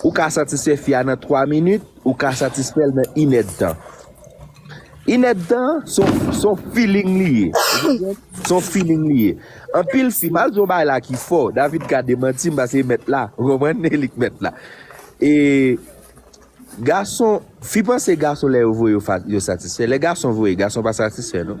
Ou ka satisfè fi a nan 3 minit, ou ka satisfèl nan inèdtan. Inèdtan son feeling li ye, ou konprann? Son feeling li ye. Anpil fi, mal di yon bagay la ki fò, David ka demantim pase li mèt la, ou konprann? E li ki mèt la. E gason, fi panse gason lè yo voye yo satisfè. Lè gason voye, gason pa satisfè non.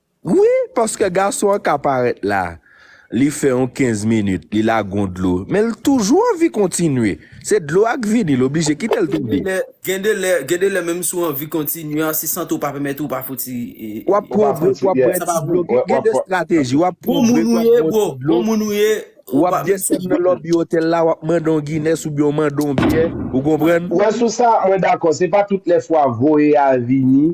Wi paske gason an ka parèt la li fè yon 15 minit li lage yon dlo men l toujou anvi kontinye se dlo a k vini l oblije kite l tonbe. Gen de lè gen de lè menm si w anvi kontinye a si sante w pa pèmèt ou w pa fouti w ap pwovre pou w ap bwè ti dlo gen de strateji w ap pwovre pou w ap bwè ti dlo w ap desann nan lòbi otèl la w ap mande yon guines oubyen w mande yon byè ou konprann. Wè sou sa mwen dakò se pa tout lè fwa voye a vini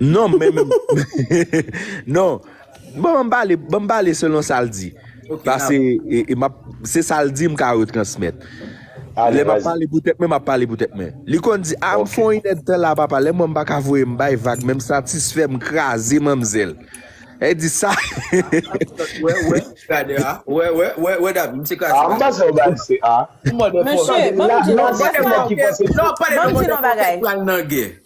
Non men non bon m pale bon m pale selon sa l di pase e map se sa l di m ka retransmèt lè map pale pou tèt mwen map pale pou tèt mwen li konn di a m fon inèd tan la papa lè m wè m pa ka voye m bay vag men m satisfè m kraze manmzèl e di sa wè wè gade a wè wè wè wè dam m se kraze a m pa sa w bay se a m mòde fò mesye banm di nou dè sa w banm di nou bagay.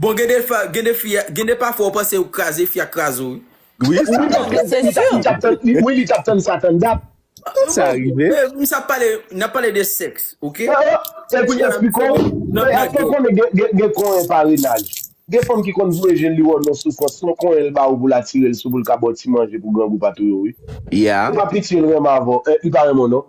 Bon gen de fa gen de fi gen de pafwa ou panse ou k kraze fi a k kraze w wi. Wi sa Wi paske rive. li ta li tap tann li wi li tap tann sa tann dat. Tout sa rive. Bon men sa pale nap pale de sèks ok Epi epi kounya fi kòw nan nan èske w konnen gen gen gen konyen parenaj gen fanm ki konn voye je l li wè w nan soufrans son konyen l ba ou pou l atire l sou pou l ka ba w ti manje pou grangou pa touye w wi Yeah. Epa pitiye l renmen avè w eh li pa renmen w non.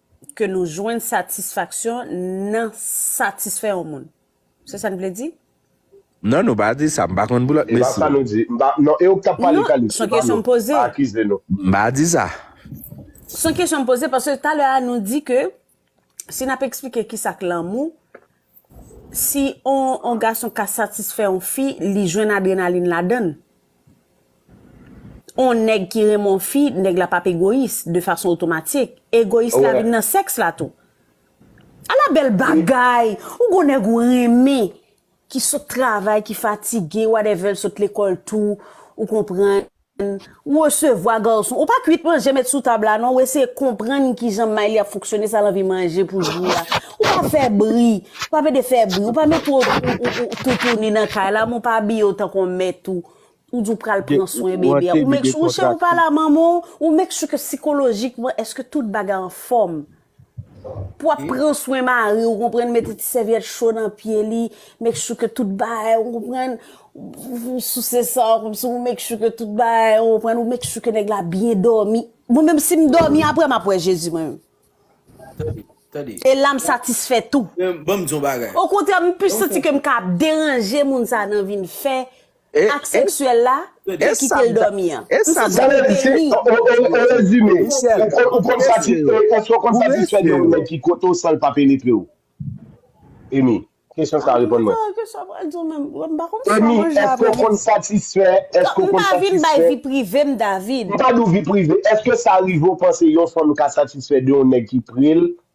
ke nou jwenn satisfaksyon nan satisfè yon moun. Se sa n vle di? Non, nou pa di sa. M pa konn pou lòt, mesi. Non, e ou k tap pale Kalis, se pa nou. Pa akize nou. M pa di sa. Se yon kesyon m poze paske talè a nou di ke si n ap eksplike kisa k lanmou, Si on gason ka satisfè on fi, li jwenn adrenalin ladann. On nèg ki renmen on fi, nèg la pap egoyis, de fason otomatik. Egoyis la vin nan sèks la tou. Ala bèl bagay! Ou g'on nèg ou renmen, ki sot travay, ki fatige, whatever, l sot lekòl tou, ou konprann. Ou resevwa garçon ou pa kwit manje met sou tab la non ou eseye konprann kijan may li ap fonksyone sa l anvi manje pou jou a ou pa fè bri ou pa pede fè bri ou pa mete ou toutouni nan kay la men ou pa abiye w tankou yon mèt ou ou di w pral pran swen bebe a ou make sure ou chè ou pale a manman w ou make sure ke sikolojikman èske tout bagay anfòm. Pou ap pran swen mari ou konprann mete ti sèvyèt cho nan pye li, make sure ke tout bagay ou konprann, ou souse san an kòmsi ou make sure ke tout bagay ou konprann, ou make sure ke nèg la byen dòmi. Mwen menm si m dòmi aprè m ap wè Jezi mwen menm. Tande, tande. E la m satisfè tou. Banm di yon bagay. Okontrè m plis santi ke m ka ap deranje moun sa nan vi m fè. Ak seksyèl la e kite l dòmi an. M se sa m te ri. O rezime, ou konn satisfè de yon nèg ki kote w san l pa penetre w? Amy, kesyon sa a reponn mwen. Amy, èske w konn satisfè? M pa vin bay vi prive m, David. M pa di w vi prive. Èske sa rive w panse yon fanm ka satisfè de yon nèg ki pre l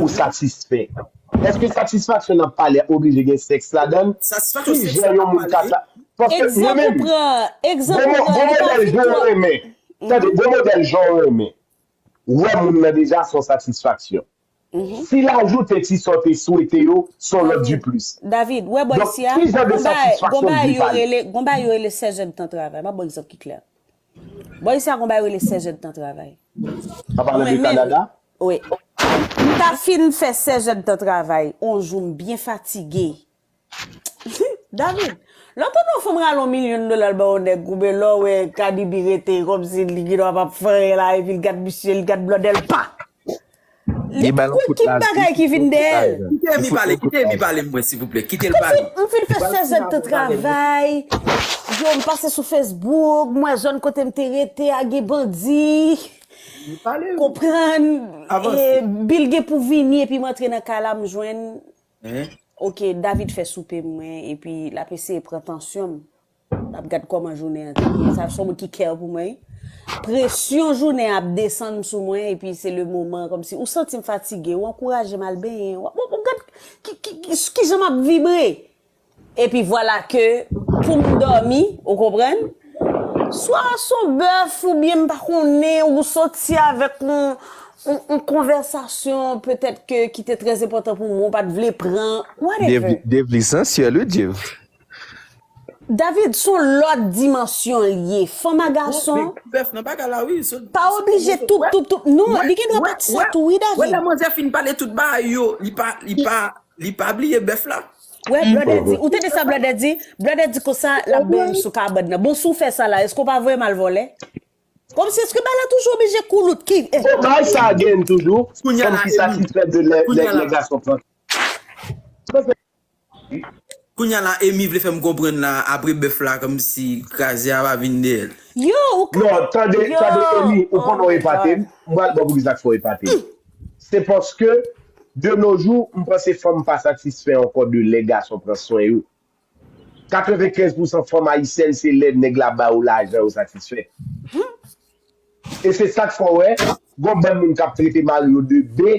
ou satisfè? Èske satisfaksyon nan pale a oblije gen sèks ladan l? Ki jan yon moun ka sa. Paske mwen menm. Gwo modèl jan w renmen. Tande, gwo modèl jan w renmen. Wè moun nan deja s on satisfaksyon. Si l ajoute ti sa w te swete yo, s on lòt diplis. Donk, ki jan de satisfaksyon m di pale? Gon bagay yo rele sèzèdtan travay. M ap ba w egzanp ki klè. Bon isi a gon bay rele 16 èdtan travay. Wap pale de Canada? Wi. M ta fin fè 16 èdtan travay on jou m byen fatige. David, lè w tande on fanm rale on milyon dola l bay on nèg oubyen lè w wè Kadibi rete kòmsi li gen dwa pap fè anyen la epi l gad misye, l gad blòdè l pa! Li bay yon kout lajè. Kite Amy pale, kite Amy pale mwen silvouplè, kite l pale. M fin fè 16 èd tan travay, yo m pase sou Facebook, m wè zòn kote m te rete a gen bandi, konprann, Bill gen pou vini epi m antre nan kay la m jwenn, ok David fè soupe mwen epi l ap eseye pran tansyon m. Map gad koman jounen an te ye. Sa son moun ki care pou mwen. Presyon jounen ap desann sou mwen epi se le moman komsi ou santim fatige ou ankourajem al benyen wap wap gad kijan map vibre. Epi vwala ke poum domi ou konprann swa son bèf oubyen m pa konnen ou soti avèk yon konvèsasyon petèt ke ki te trè enpòtan pou mwen ou pat vle pran whatever. Devli sansyèl wi Dave. David son lòt dimansyon l ye fanm a gason pa oblije tout tout tout non li gen dwa pat sa tou wi David wè blòdè di ou tande sa blòdè di blòdè di konsa lap bèy m sou kabòd nan bon si w fè sa la èske w pa voye m al vòlè kòmsi èske bagay la toujou oblije koulout ki bagay sa gen toujou fanm ki satisfè de lè lè gason pran. Kounya la Amy vle fèm konprann la apre bèf la kòmsi kraze a pa vin deyèl. Yo ou ka Non tande yo tande Amy ou oh konnen my god. epatem m pral baw poukisa fòw epatem se paske de no jou m panse fanm pa satisfè ankò de lè gason pran swen yo 95 pousan fanm ayisyèn se lè nèg la ba yo lajan yo satisfè e se sak fè w wè gon bann moun kap trete mari yo de be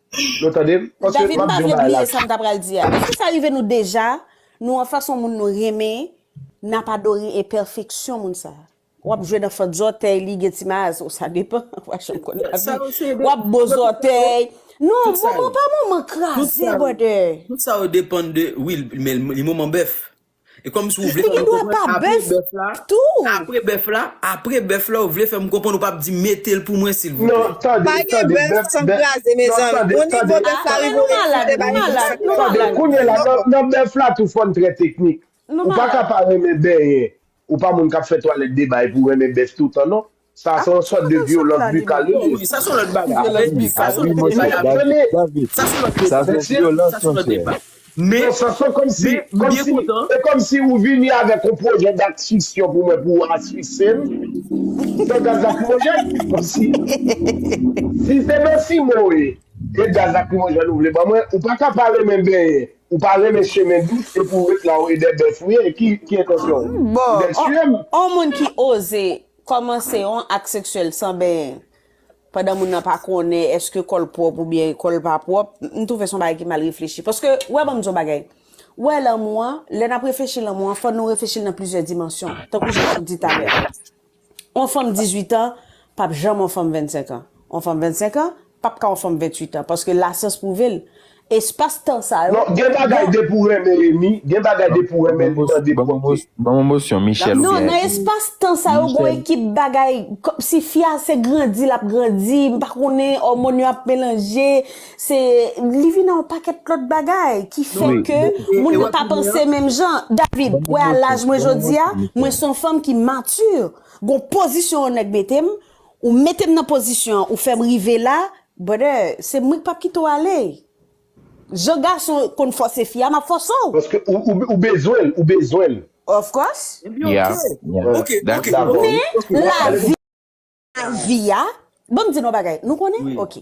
Nou tande m? Paske David m map pa di yon vle bagay la. bliye sa m ta pral di a. Eske sa rive nou deja nou anfas yon moun nou renmen n ap adore enpèfeksyon moun sa? W ap jwe nan fant zòtèy li gen ti maas o sa depan wa janm konn Tout sa lavi yo se w ap depan bo de kote yo. zòtèy non Tout sa moman yo. pa moman Tout kraze sa yo. brother. Tout sa yo depan de wi men li moman bèf. E kòm si ou vle fè m konprann apre bèf la, apre bèf la, apre bèf la ou vle fè m konprann ou pap di mete l pou mwen silvouplè. Pa gen bèf san kraze mezanmi. Bon nivo bèf la rive ou refize ba yon moun san kraze. Tande kounye la nan bèf la tou fòn trè teknik. Ou pa ka pa renmen benyen. Ou pa moun k ap fè twalèt debay pou renmen bèf toutan non. Sa se yon sòt de vyolans bikal li ye. Sa se yon lòt bagay. Men, sa se kòmsi, kòmsi, e kòmsi ou vini avèk yon pwojè dat fiksyon pou mwen pou asfisye m. Fè gaz lakrimojèn? Kòmsi, si se nan Simoe ke gaz lakrimojèn ou vle ban mwen, ou pa ka pa renmen benyen, ou pa renmen chemen dous epi ou ret la ou e dè bèf ou ye, ki entansyon ou? Ou dè tiye m? Bon, yon moun ki oze Kòmanse yon ak seksyèl san benyen pandan moun nan pa konnen eske kòl pwòp oubyen kòl pa pwòp, m twouve se yon bagay ki mal reflechi. Paske, wè banm di w yon bagay, wè lanmou an, lè nap reflechi lanmou an, fò nou reflechi l nan plizyè dimansyon. Tankou jan map di talè a. Yon fanm 18 an pap janm yon fanm 25 an. Yon fanm 25 an p ap ka yon fanm 28 an paske lasyans pwouve l espas tan sa yo Non, gen bagay depi w renmen Remy, gen bagay depi w renmen li mande pwòpte. Ban mwen mosyon Michel oubyen Remy. Non, nan espas tan sa yo gon ekip bagay, si fi a se grandi l ap grandi, m pa konnen òmòn yo ap melanje, se li vin nan yon pakèt lòt bagay ki fè ke moun nan pa panse menm jan. David, ou wè a laj mwen jodi a, mwen s on fanm ki mature, gon pozisyon yon nèg mete m, Ou metem nan pozisyon an ou fèm rive la brother se mwen ki pap kite w ale jan gason konn fòse fi a map fòse w. Paske ou bezwen l ou bezwen l. Of course. Ebyen ok ok ok men lavi a banm di nou yon bagay nou konnen ok.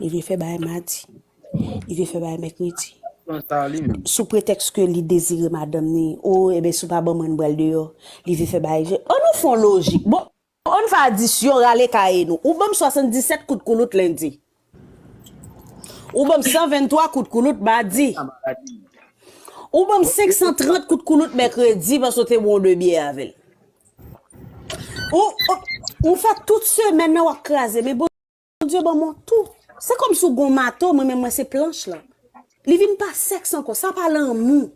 Li vle fè bagay madi. Li vle fè bagay mèkredi. Sou pretèks ke li dezire madanm ni. O, eben si w pa ban mwen m pral deyò. Li vle fè bagay je. An nou fè yon lojik. Bon, an n fè adisyon rale kaye nou. Ou ban m 77 kout koulout lendi. Ou ban m 123 kout koulout madi. Ou ban m 530 kout koulout mèkredi paske w te bwè yon 2 byè avè l. Ou, ou fè tout semèn nan w ap kraze men. Bondye ban mwen tou. Se kòm si w gen yon mato, mwen menm mwen se planch lan. Li vin pa sèks ankò, sa pa lanmou.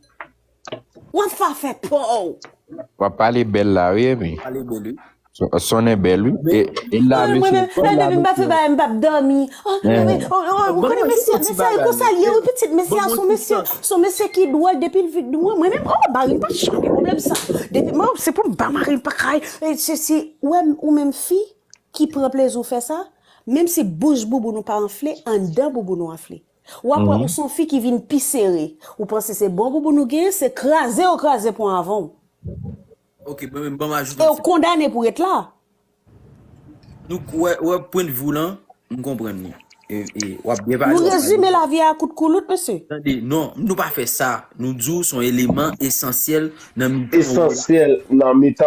W ap fè afè pa w. W ap pale bèl la wi Emi. Pale bèl wi. Sonnen bèl wi. E la mesye. Mwen menm, lè Emi pa fè bagay m pa p dòmi. O, o, ou konnen mesye a, mesye a e konsa l ye wi pitit. Mesye a son mesye, son mesye ki dwòl depi l vin mwen menm, o, mari m pa janm gen pwoblèm sa. Depi mwen, se pou m ba mari m pa kay, e sesi. Ou wè m, ou menm fi, ki pran plezi w fè sa, menm si bouch bouboun ou pa anfle, anndan bouboun ou anfle. Ou ap wè ou s on fi ki vin pi sere. Ou panse se bon bouboun ou genyen, se kraze yo kraze pon avan w. Ok, mwen menm ban m ajoute yon ti bagay. E w kondane pou ret la. Nou k wè, wè pwendvi w lan, m konprann li. E w ap byen pale. Nou rezime lavi a a kout koulout mesye? Tande, non, nou pa fè sa. Nou di w s on eleman esansyèl nan mitan w la. Esansyèl nan mitan.